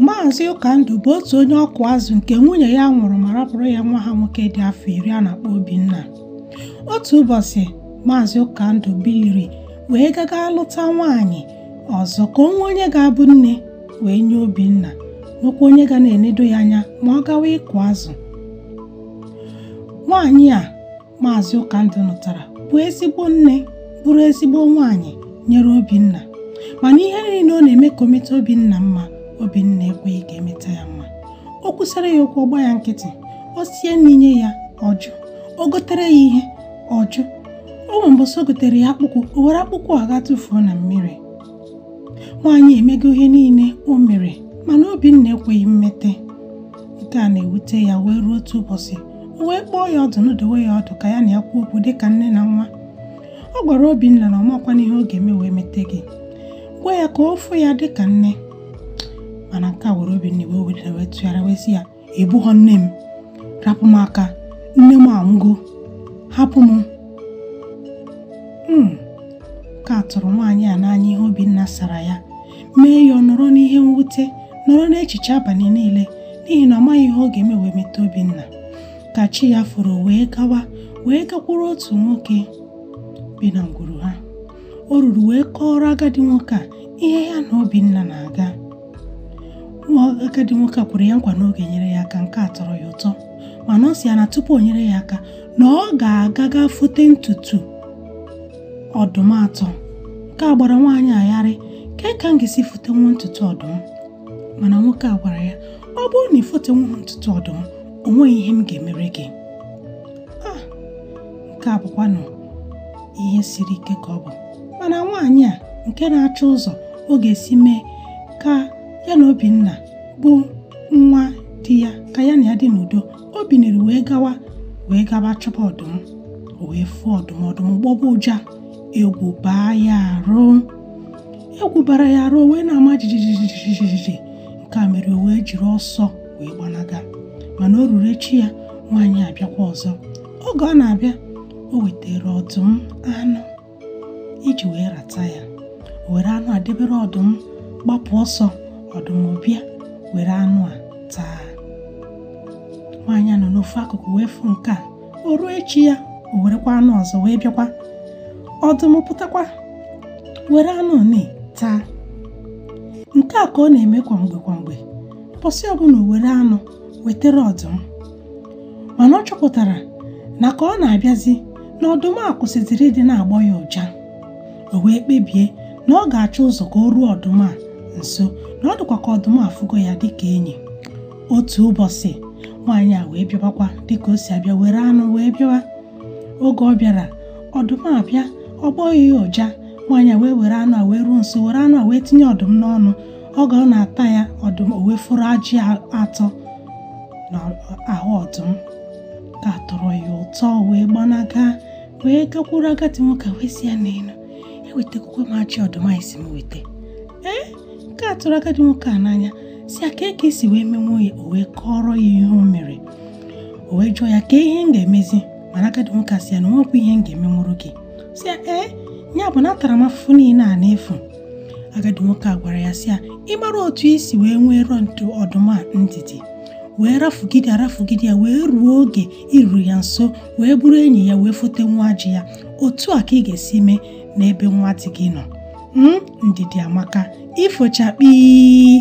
Maazị Ụkandụ bụ otu onye ọkụ azụ nke nwunye ya nwụrụ ma rapụrụ ya nwa ha nwoke dị afọ iri a na-akpọ Obinna. Otu ụbọchị, Maazị Ụkandụ biliri wee gaga lụta nwaanyị ọzọ ka o nwee onye ga-abụ nne wee nye Obinna nwekwa onye ga na-enedo ya anya ma ọ gawa ịkụ azụ. Nwaanyị a maazị Ụkandụ nụtara bụ ezigbo nne bụrụ ezigbo nwaanyị nyere Obinna mana ihe niile ọ na-eme ka o meta Obinna mma Obinna ekweghị ka e meta ya mma o kwusara ya okwu ọ gba ya nkịtị o sie nni nye ya ọ jụ o gotere ya ihe ọ jụ o nwere mbọsị o gotere ya akpụkwụ o were akpụkwụ a gaa tụfuo na mmiri nwaanyị emego ihe niile o mere mana Obinna ekweghị mmeta nke a na-ewute ya wee ruo otu ụbọchị o wee kpọọ ya ọdụ nọdowe ya ọdụ ka ya na ya kwuo okwu dị ka nne na nwa ọ gwara Obinna na ọ makwana ihe ọ ga-eme wee meta gị gwa ya ka ọ fụ ya dị ka nne mana nke a were Obinna iwe wee tụgharịa wee sị ya ị bụghọ nne m rapụ m aka nne m anwụgo hapụ m hmm. nke a tụrụ nwaanyị a n'anya ihe Obinna sara ya mee ya ọ nọrọ n'ihe mwute nọrọ n'echiche abalị niile n'ihi na ọ maghị ihe ọ ga-eme wee meta Obinna ka chi ya foro wee gawa wee gakwuru otu nwoke bi na ngwuru ha o ruru wee kọọrọ agadi nwoke a ihe ya na Obinna na-aga nwa agadi nwoke a kwere ya nkwa na ọ ga-enyere ya aka nke a tọrọ ya ụtọ mana ọ sị ya na tupu o nyere ya aka na ọ ga-aga gaa fote ntutu ọdụm atọ nke a gbara nwaanyị a gharịị ka ka m ga-esi fotenwu ntutu ọdụm mana nwoke a gwara ya ọ bụrụ na i fotenwuha ntutu ọdụm o nweghị ihe m ga-emere gị ah, nke a bụkwanụ ihe siri ike ka ọ bụ mana nwaanyị a nke na-achọ ụzọ ọ ga-esi mee ka ya na Obinna bụ nwa di ya ka ya na ya dị n'udo o biniri wee gawa wee gaba chọba ọdụm o wee fụ ọdụm ọdụm gbọba ụja egwu baa ya arụ egwu bara ya arụ wee na-ama jijijijijiji nke a mere o wee jiri ọsọ wee gbanaga mana o ruru echi ya nwaanyị abịakwa ọzọ oge ọ na-abịa o wetara ọdụm anụ iji wee rata ya o were anụ a debere ọdụm gbapụ ọsọ ọdụm bịa were anụ a taa nwaanyị a nọ n'ofu akụkụ wee fụ nke a o ruo echi ya o werekwa anụ ọzọ wee bịakwa ọdụm pụtakwa were anụ one taa nke a ka ọ na-eme kwa mgbe kwa mgbe ụbọchị ọbụla o were anụ wetara ọdụm mana ọ chọpụtara na ka ọ na-abịazi na ọdụm a kwụsịziri ịdị na-agbọ ya ụja o wee kpebie na ọ ga-achọ ụzọ ka o ruo ọdụm a nso na ọ dịkwa ka ọdụm afụgo ya dịka enyi otu ụbọchị nwaanyị a wee bịabakwa dịka o si abịa were anụ wee bịawa oge ọ bịara ọdụm abịa ọ gbọghị ya ụja nwaanyị a wee were anụ a wee ruo nso were anụ a wee tinye ọdụm n'ọnụ oge ọ na-ata ya ọdụm o wee foro ajị atọ n'ahụ ọdụm nke a tọrọ ya ụtọ wee gbanaga wee gakwuru agadi nwoke wee sị ya neenụ ewetakwa m ajị ọdụm a ị sị m weta ee nke a tụrụ agadi nwoke a n'anya sị ya kee ka i si wee menwuo ya o wee kọrọ ya ihe o mere o wee jụọ ya kee ihe m ga-emezi mana agadi nwoke a sị ya na o nwekwa ihe m ga-emenwuru gị sị ya ee ya bụ na atara m afụfụ niile a n'efu agadi nwoke a gwara ya sị ya ị mara otu i si wee nweere ntụ ọdụm a ndidi wee rafugide arafugide ya wee ruo oge i ruru ya nso wee bụrụ enyi ya wee fote nwa ajị ya otu a ka ị ga-esi mee n'ebe nwa di gị nọ hmm, ndidi amaka ifo chakpii